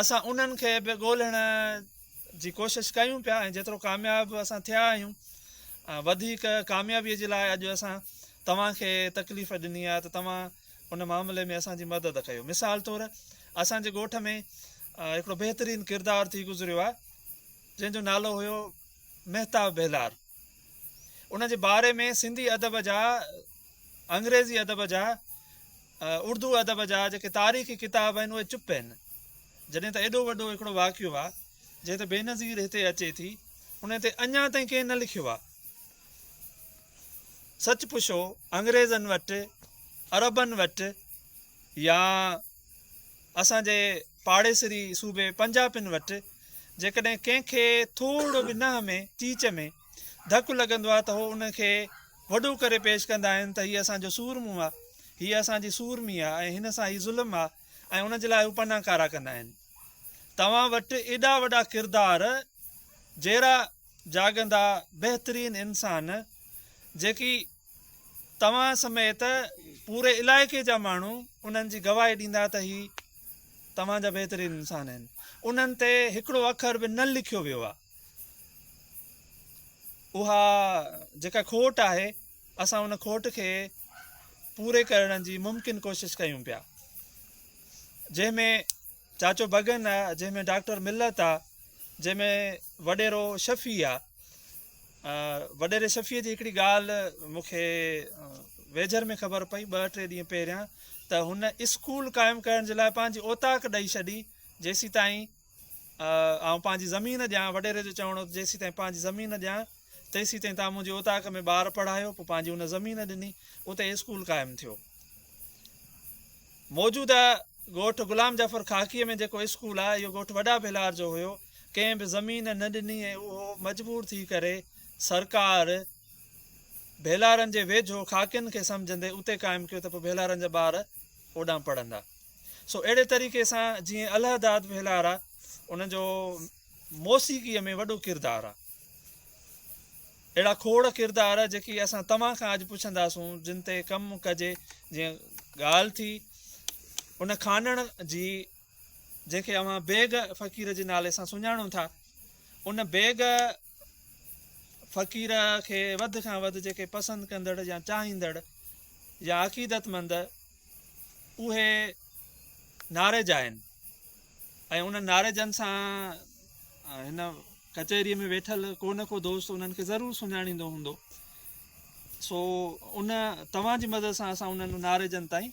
اسان انهن کي به ڳولهڻ جي ڪوشش ڪيون پيا ۽ جيترو ڪامياب اسان ٿيا آهيون ۽ وڌيڪ ڪاميابي جي لاء اڄ اسان توهان کي تڪليف ڏني آهي ته توهان ان معاملي ۾ اسان جي مدد ڪيو مثال طور اسان جي ڳوٺ ۾ هڪڙو بهترين ڪردار ٿي گذريو آهي جنهن جو نالو هيو مهتاب بهلار ان جي باري ۾ سنڌي ادب جا انگريزي ادب جا اردو ادب جا جيڪي تاريخي ڪتاب آهن اهي چپ آهن جڏهن ته ايڏو وڏو هڪڙو واقعو آهي جنهن تي بينظير هتي اچي ٿي ان تي اڃا تائين ڪنهن نه لکيو آهي سچ پڇو انگريزن وٽ عربن وٽ يا اسان جي پاڙيسري صوبي پنجابين وٽ جيڪڏهن ڪنهن کي ٿورڙو به نهن ۾ چيچ ۾ ڌڪ لڳندو آهي ته هو ان کي وڏو ڪري پيش ڪندا آهن ته هيء اسان جو سورمو آهي، هيء اسان جي سورمي آهي ۽ هن سان هي ظلم آهي ۽ ان جي لاء هو پنا ڪارا ڪندا آهن. توهان وٽ ايڏا وڏا ڪردار، جيرا جاڳندا بهترين انسان، جيڪي توهان سميت پوري علائقي جا ماڻهو انهن جي گواهي ڏيندا ته هي توهان جا بهترين انسان آهن، انهن تي هڪڙو اکر به نه لکيو ويو آهي. اها جيڪا کوٽ آهي اسان ان کوٽ کي پوري ڪرڻ جي ممڪن ڪوشش ڪيون پيا جنهن ۾ چاچو بگن آ جنهن ۾ ڊاڪٽر ملت آ جنهن ۾ وڏيرو شفي آ وڏيري شفيء جي هڪڙي ڳالهه مون کي ويجهر ۾ خبر پئي ٻه ٽي ڏينهن پهريان ته هن اسڪول قائم ڪرڻ جي لاء پنهنجي اوطاق ڏئي ڇڏي جيسين تائين آئون پنهنجي زمين ڏيان، وڏيري جو چوڻ هو ته جيسيتائين پنهنجي زمين ڏيان، تيسيتائين توهان منهنجي اوطاق ۾ ٻار پڙهايو. پوء پنهنجي ان زمين ڏني، اتي اسڪول قائم ٿيو. موجوده ڳوٺ غلام جعفر خاڪيء ۾ جيڪو اسڪول آهي، اهو ڳوٺ وڏا ڀيلار جو هيو. ڪنهن به زمين نه ڏني ۽ اهو مجبور ٿي ڪري سرڪار ڀيلارن جي ويجهو خاڪين کي سمجهندي اتي قائم ڪيو ته پوء ڀيلارن جا ٻار اوڏانهن پڙهندا. سو اهڙي طريقي سان جيئن الهه داد ڀيلار آ ان جو موسيقي ۾ وڏو ڪردار آ. اهڙا کوڙ ڪردار جيڪي اسان توهان کان اڄ پڇنداسون جن تي ڪم ڪجي جيئن ڳالهه ٿي ان کانئڻ جي جنهن کي اوهان بيگ فقير جي نالي سان سڃاڻو ٿا ان بيگ فقير کي وڌ کان وڌ جيڪي پسند ڪندڙ يا چاهيندڙ يا عقيدت مند اهي نارج آهن ۽ انهن نارجن سان هن ڪچهريء ۾ ويٺل ڪو نه ڪو دوست انهن کي ضرور سڃاڻيندو هوندو سو ان توهان جي مدد سان اسان انهن نارجن تائين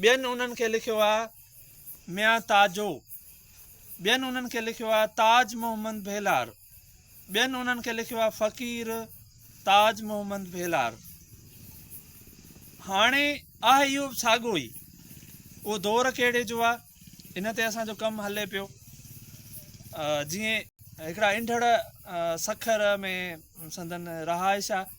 ٻين انهن کي لکيو آ ميان تاجو. ٻين انهن کي لکيو آ تاج محمد ڀيلار. ٻين انهن کي لکيو آ فقير تاج محمد ڀيلار. هاڻي آهي اهو به ساڳو ئي. اهو دور ڪهڙي جو آ ان تي اسان جو ڪم هلي پيو. جيئن هڪڙا انڍڙ سکر ۾ سندن رهائش آ.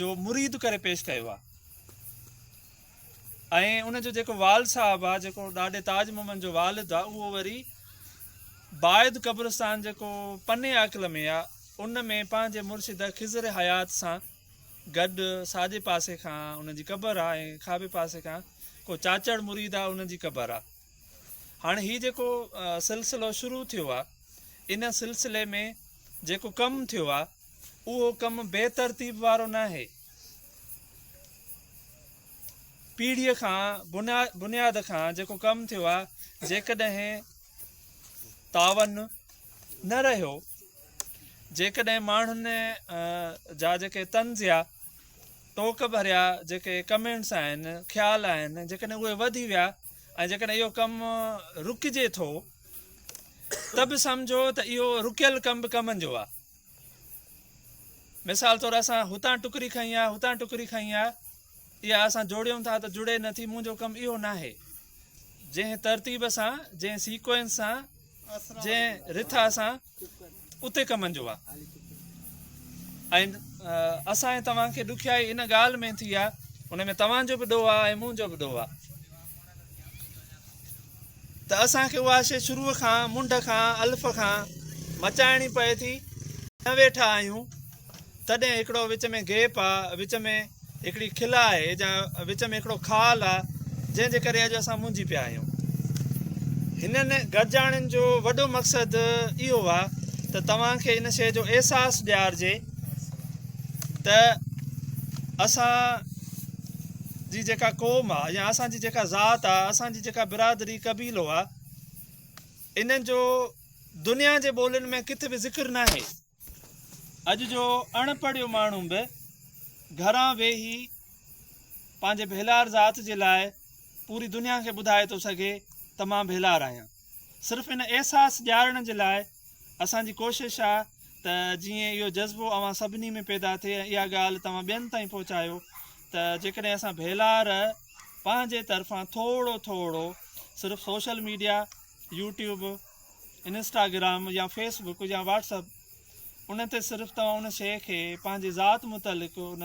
جو مريد ڪري پيش ڪيو آ ۽ ان جو جيڪو وال صاحب آ جيڪو ڏاڏي تاج محمد جو والد آ اهو وري بايد قبرستان جيڪو پني عاقل ۾ آ ان ۾ پنهنجي مرشد خضر حيات سان گڏ ساڄي پاسي کان ان جي قبر آ ۽ کاٻي پاسي کان ڪو چاچڙ مريد آ ان جي قبر آ هاڻي هي جيڪو سلسلو شروع ٿيو آ ان سلسلي ۾ جيڪو ڪم ٿيو آ اهو ڪم بي ترتيب وارو ناهي. پيڙهيء کان بنياد کان جيڪو ڪم ٿيو آهي، جيڪڏهن تعاون نه رهيو، جيڪڏهن ماڻهن جا جيڪي طنز يا ٽوڪ ڀريا جيڪي ڪمينٽس آهن، خيال آهن، جيڪڏهن اهي وڌي ويا ۽ جيڪڏهن اهو ڪم رڪجي ٿو ته به سمجهو ته اهو رڪيل ڪم به ڪمن جو آهي. مثال طور اسان هتان ٽڪري کنئي آ هتان ٽڪري کنئي آ اها اسان جوڙيون ٿا ته جڙي نه ٿي منهنجو ڪم اهو ناهي جنهن ترتيب سان جنهن سيڪوئنس سان جنهن رٿا سان اتي ڪمن جو آهي ۽ اسان ۽ توهان کي ڏکيائي ان ڳالهه ۾ ٿي آ ان ۾ توهان جو به ڏوهه آ ۽ منهنجو به ڏوهه آ ته اسان کي اها شيء شروع کان، منڍ کان، الف کان، مچائڻي پئي ٿي. نه ويٺا آهيون، تڏهن هڪڙو وچ ۾ گيپ آ، وچ ۾ هڪڙي کل آهي جا وچ ۾ هڪڙو خال آ، جنهن جي ڪري اڄ اسان منجهي پيا آهيون. هنن گڏجاڻين جو وڏو مقصد اهو آ ته توهان کي ان شيء جو احساس ڏيارجي ته اسان، جي جيڪا قوم آ يا اسان جي جيڪا ذات آ اسان جي جيڪا برادري قبيلو آ انهن جو دنيا جي ٻولين ۾ ڪٿ به ذڪر ناهي اڄ جو اڻ پڙهيو ماڻهو به گهران ويهي پنهنجي ڀيلار ذات جي لاء پوري دنيا کي ٻڌائي ٿو سگهي ته مان ڀيلار آهيان صرف ان احساس ڏيارڻ جي لاء اسان جي ڪوشش آ ته جيئن اهو جذبو اوهان سڀني ۾ پيدا ٿئي ۽ اها ڳالهه توهان ٻين تائين پهچايو ته جيڪڏهن اسان ڀيلار پنهنجي طرفان ٿورڙو ٿورڙو صرف سوشل ميڊيا يوٽيوب انسٽاگرام يا فيس بڪ يا واٽس اپ ان تي صرف توهان ان شيء کي پنهنجي ذات متعلق ان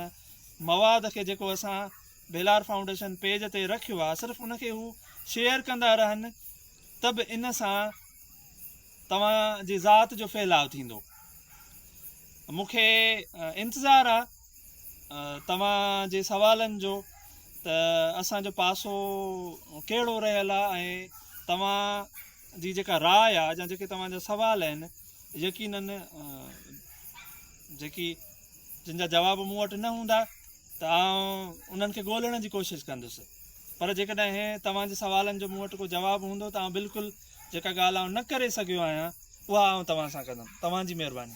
مواد کي جيڪو اسان ڀيلار فائونڊيشن پيج تي رکيو آ صرف ان کي هو شيئر ڪندا رهن ته به ان سان توهان جي ذات جو ڦهلاء ٿيندو. مون کي انتظار آ توهان جي سوالن جو ته اسان جو پاسو ڪهڙو رهيل آ ۽ توهان جي جيڪا راء آ يا جيڪي توهان جا سوال آهن يقينن جيڪي جن جا جواب مون وٽ نه هوندا ته آئون انهن کي ڳولڻ جي ڪوشش ڪندس. پر جيڪڏهن توهان جي سوالن جو مون وٽ ڪو جواب هوندو ته آئون بلڪل جيڪا ڳالهه آئون نه ڪري سگهيو آهيان اها آئون توهان سان ڪندم. توهان جي مهرباني.